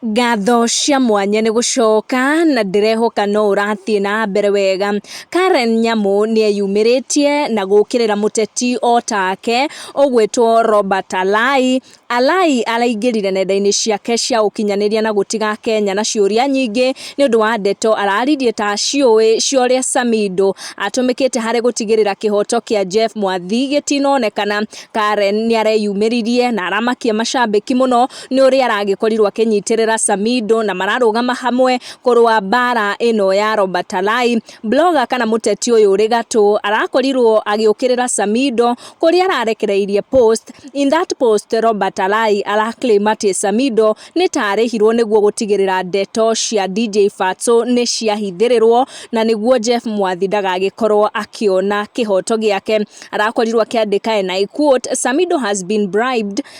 Ngatho cia mwanya nĩ gũcoka na ndĩrehoka no ũrathiĩ na mbere wega. Karen Nyamu nĩ eyumĩrĩtie na gũkĩrĩra mũteti o take ũgwĩtwo Robert Alai. Alai araingĩrire nenda-inĩ ciake cia ũkinyanĩria na gũtiga Akenya na ciũria nyingĩ nĩ ũndũ wa ndeto araririe ta aciũĩ cia ũrĩa Samido atũmĩkĩte harĩ gũtigĩrĩra kĩhoto kĩa Jeff Mwathi gĩtinonekana. Karen nĩ areyumĩririe na aramakia macambĩki mũno. nĩ ũrĩa aragĩkorirwo akĩnyitĩrĩra Samido na mararũgama hamwe kũrũa mbara ĩno ya Robert Alai. Blogger kana mũteti ũyũ ũrĩ gatũ arakorirwo agĩũkĩrĩra Samido kũrĩa ararekereirie post. In that post Robert Alai araclaim atĩ Samido nĩ ta arĩhirwo nĩguo gũtigĩrĩra ndeto cia DJ Fatso nĩ ciahithĩrĩrwo na nĩguo Jeff Mwathi ndagagĩkorwo akĩona kĩhoto gĩake. Arakorirwo akĩandĩka and I quote, Samido has been bribed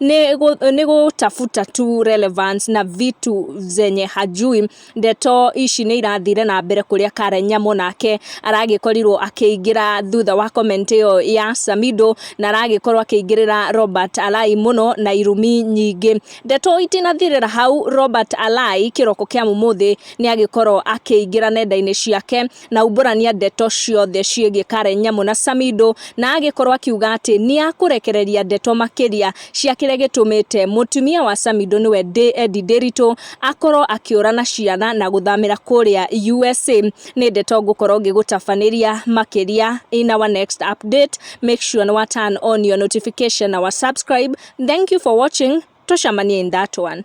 nĩ gũtabuta tu relevance na vitu zenye hajui. Ndeto ici nĩ irathire na mbere kũrĩa Karen Nyamu nake aragĩkorirwo akĩingĩra thutha wa comment ĩyo ya Samido na aragĩkorwo akĩingĩrĩra Robert Alai mũno na irumi nyingĩ. Ndeto itinathirĩra hau, Robert Alai kĩroko kĩa ũmũthĩ nĩ agĩkorwo akĩingĩra nenda-inĩ ciake na aumbũrania ndeto ciothe ciĩgiĩ Karen Nyamu na Samido na agĩkorwo akiuga atĩ nĩakũrekereria ndeto makĩria cia kĩrĩa gĩtũmĩte mũtumia wa Samido nĩwe Eddie Ndĩritũ akorwo akĩũra na ciana na gũthamĩra kũrĩa USA. Nĩ ndeto ngũkorwo ngĩgũtabanĩria makĩria in our next update. Make sure nĩ wa turn on your notification na wa subscribe. Thank you for watching. Tucemanie in that one.